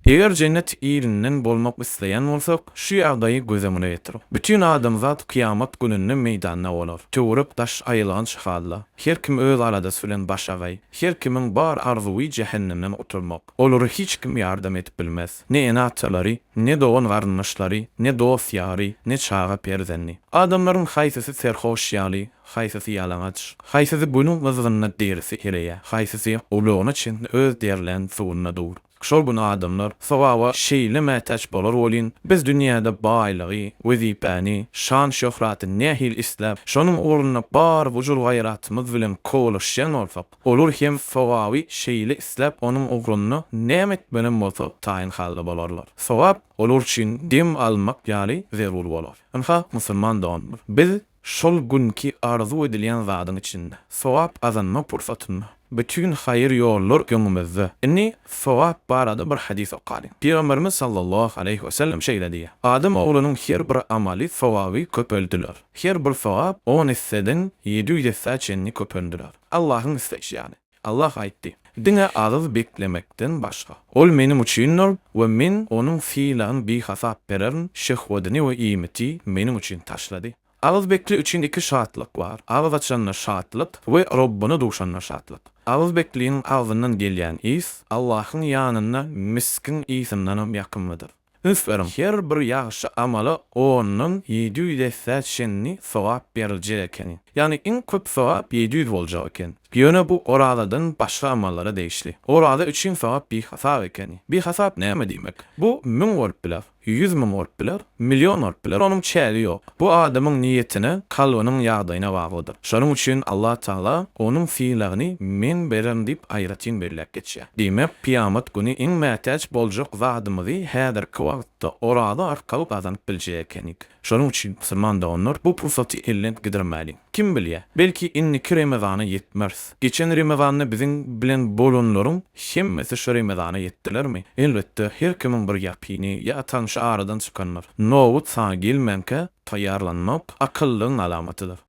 Eger jennet elinden bolmak isleýän bolsak, şu ýagdaýy göz öňüne getiriň. Bütin adamzat kyýamat gününde meýdanda bolar. Töwerek-daş aýylganç halla. Her kim öz aladasy bilen başagaý. Her kimiň bar arzuwy jähennemden gutulmak. Olara hiç kim ýardam edip bilmez. Ne ene-atalary, ne dogan-garyndaşlary, ne dost-ýary, ne çaga-perzendi. Adamlaryň haýsysy serhoş ýaly, Haýsysy ýalaňaç, haýsysy günüň gyzgynynda derisi ereýär, haýsysy gulagyna çenli öz derlän suwunda dur. Şol gün adamlar sogaba şeýle mätäç bolar welin, biz dünýäde baýlygy, wezipäni, şan-şöhraty nähili isläp, şonuň ugrunda bar gujur-gaýratymyz bilen kowalaşýan bolsak, olar hem sogaby şeýle isläp, onuň ugrunda näme etmelem bolsa taýyn halda bolarlar. Sogap olar üçin dem almak ýaly zerur bolar. Ynha, musulman doganlar, biz Şol günki arzuw edilýän zadyň içinde, sogap gazanma pursatynda, bütin haýyr ýollar öňümizde. Indi sogap barada bir hadys okalyň. Pygamberimiz sallallahu aleýhi we sellem şeýle diýýär, Adam oglunyň her bir amaly sogaby köpeldiler. Her bir sogap on esseden ýedi ýüz essä çenli köpeldiler. Allahyň isleýşi ýaly. Allah aýtdy, Diňe agyz beklemekden başga. Ol Meniň üçindir we Men onuň sylagyny bihasap bererin, şehwedyny we iýmiti Meniň üçin taşlady. Agyz bekli üçin iki şatlyk bar, agyz açanda şatlyk we Robbyna duşanda şatlyk. Agyz bekliniň agzyndan gelýän ys Allahyň ýanynda miskiň ysyndanam ýakymlydyr. Üns beriň, her bir ýagşy amala ondan ýedi ýüz essä çenli sogap beriljek ekeni. Ýagny iň köp sogap ýedi ýüz boljak eken. Ýöne bu orazadan başga amallara degişli. Oraza üçin sogap bihasap ekeni. Bihasap näme diýmek? Bu müň bolup biler, ýüz müň bolup biler, million bolup biler, onuň çägi ýok. Bu adamyň niýetine, kalbynyň ýagdaýyna baglydyr. Şonuň üçin Allatagala onuň sylagyny men bererin diýip aýratyn belläp geçýär. Diýmek, kyýamat güni iň mätäç boljak zadymyzy häzirki wagtda oraza arkaly gazanyp biljek ekenik. Şonuň üçin, musulman doganlar, bu pursaty elden gidirmäliň. Kim bilýä, belki indiki Remezana ýetmeris. Geçen Remezanda biziň bilen bolanlaryň hemmesi şu Remezana ýetdilermi? Elbetde, her kimiň bir ýakyny ýa tanşy aradan çykandyr. Nobat sana gelmänkä taýýarlanmak, akyllygyň alamatydyr.